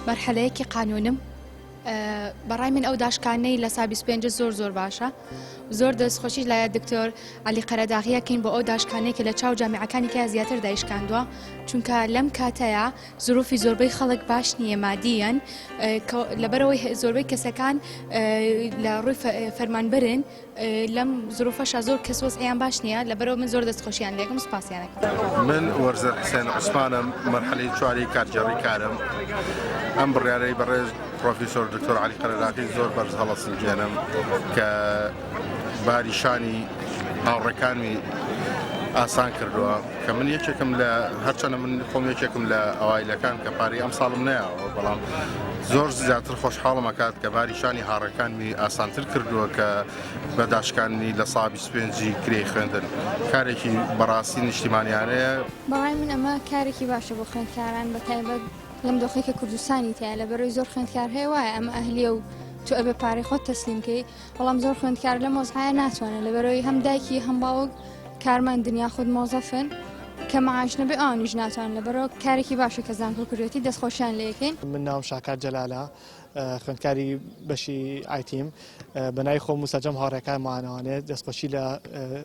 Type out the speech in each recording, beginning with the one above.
مەرحەلەیەکی قانونم بەڕای من ئەو داشکانەی لە سا 25 زۆر زۆر باشە زۆر دەستخۆشی لایە دکتۆر علی قەرەداغیەکەین بۆ ئەو داشکانێکی لە چاو جامعەکانی کە زیاتر دایشکاندووە چونکە لەم کاتەیە زروفی زۆربەی خەڵک باش نییە مادیەن لەبەرەوەی زۆربەی کەسەکان لە ڕووی فەرمانبرن لەم زروفەشا زۆر کەس وەزعیان باش نییە لەبەرەوە من زۆر دەست خۆشیان لێکم سپاسیانەکەم من وەرزەر حسێن عوسمانم مەرحەلەی چواری کارگێڕی کارم ئەم بڕیارەی بەڕێز پرۆفیسۆر دکتۆر علی قەرەداخی زۆر بەرز هەڵەسنجێنم کە باری شانی هاوڕەکانمی ئاسان کردووە کە من یەکێکم لە هەرچەنە من خۆم یەکێکم لە ئەوایلەکان کە پارەی ئەم ساڵم نایەوە بەڵام زۆر زیاتر خۆشحاڵم ئەکات کە باری شانی هاڕەکانمی ئاسانتر کردووە کە بە داشکانمی لە سا 25 کرێی خوێندن کارێکی بەڕاستی نیشتیمانیانەیە بەڕای من ئەمە کارێکی باشە بۆ خوێندکاران بە تایبەت لەم دۆخی کە کوردستانی تایە لە بەرەوەی زۆر خوێندکار هەیە وایە ئەمە ئەهلیە و تو ئەبێ پارەی خۆت تەسلیمکەی بەڵام زۆر خوێندکار لەم وەزعایە ناتوانێت لەبەرەوەی هەم دایکی هەم باوک کارمەندن یاخود مۆزەفن کە معاش نەبێ ئەوانیش ناتوان لەبەرەوە کارێکی باشە کە زانکۆ کردوێتی دەستخۆشیان لێ یەکەین من ناوم شاکار جەلالە اه، خوێندکاری بەشی ئایتیم اه، بە ناوی خۆم و سەرجەم هاوڕێکانمانەوانێت دەستخۆشی لە اه،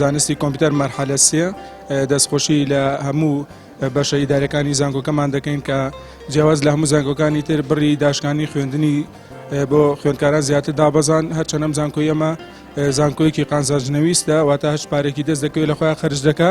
زانستی کۆمپیوتەر مەرحەلە سێ دەستخۆشی لە هەموو بەشە ئیدارەکانی زانکۆکەمان دەکەین کە جیاواز لە هەموو زانکۆکانی تر بڕی داشکانی خوێندنی بۆ خوێندکاران زیاتر دابەزان هەرچەنەم زانکۆی ئەمە زانکۆیەکی قانزاجنەویستە واتە هەش پارێکی دەست دەکەوێت لە خۆیان خرج دەکە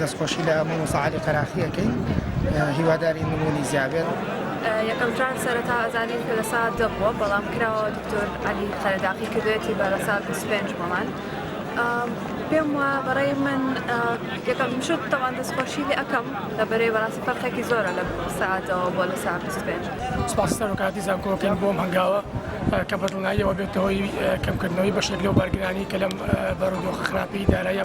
دەستخۆشی لە مامۆستا عەلی قەراخی ئەکەین هیوادارین نمونی زیابێت. یەکەم جار سەرەتا ئەزانین کە لە سات دە بووە بەڵام کراوە دکتۆر عەلی قەرەداقی کردوێتی بە لە سات پێنج بۆمان. پێم وە بەڕێ من یەکەم شت تەوان دەستخۆشی لێ ئەەکەم لە بەرەی بەڕاستی پەرخێکی زۆرە لە ساعتەوە بۆ لە سا پێنج سپاستە بەکاتی زانکۆکەین بۆم هەنگاوە کە بەدڵناییەوە بێتەوەی کەمکردنەوەی بەشێک لەو بارگرانی کە لەم بەڕدۆخە خراپی دارایە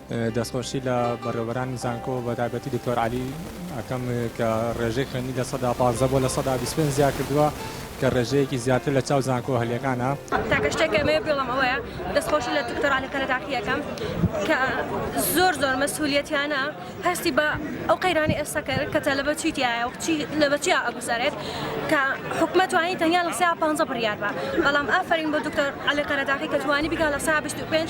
دەستخۆشی لە بەڕێوەبەرانی زانکۆ بە تایبەتی دکتۆر عەلی ئەکەم کە ڕێژەی خوێندنی لە سەدا پازدە بۆ لە سەدا بیست پێنج زیاد کردووە کە ڕێژەیەکی زیاتر لە چاو زانکۆ هەلەکانە. تاکە شتێک کە مەوێ بڵێم ئەوەیە دەستخۆشی لە دکتۆر عەلی قەرەداخی ئەکەم کە زۆر زۆر مەسئولیەتیانە هەستی بە ئەو قەیرانی ئێستا کرد کە تەلەبە چی تایە و چی لە بە چیا ئەگوزارێت کە حکومە توانی تەنیا لە سا پانزە بڕیار بە بەڵام ئافەرین بۆ دکتۆر عەلی قەرەداخی کە توانی بیکا لە سا بیست و پێنج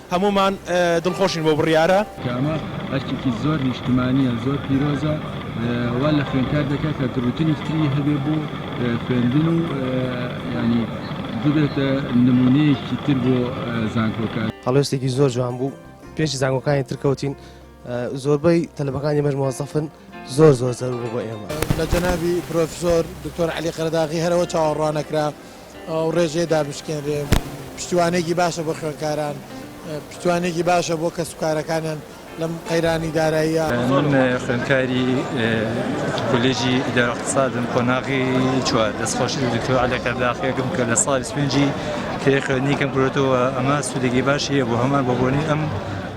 هەموومان دڵخۆشین بەو بڕیارە. کە ئەمە ئەرکێکی زۆر نیشتمانییە زۆر پیرۆزە وا لە خوێندکار دەکات کە گڕوتنێکی تری هەبێت بۆ خوێندن و یانی ببێتە نموونەیەکی تر بۆ زانکۆکە. هەڵوێستێکی زۆر جوان بوو پێش زانکۆکانی تر کەوتین. زۆربەی تەلەبەکان ئێمەش مۆزەفن زۆر زۆر زەرور بۆ ئێمە لە جەنابی پرۆفسۆر دکتۆر علی قەرداغی هەرەوە چاوەڕوانەکرا ئەو ڕێژەیە دابشکێنرێ پشتیوانێکی باشە بۆ خوێنکاران پشتیوانێکی باشە بۆ کەسوکارەکانیان لەم قەیرانی داراییە من خوێنکاری کولێژی ئیدارەقتصادم قۆناغی چوار دەستخۆشی دکتۆر علی قەرداغیەکەم کە لە ساڵی سپێنجی تێ خوێنی کەم گرۆتەوە ئەمە سوودێکی باشیە بۆ هەمان بۆ بۆنی ئەم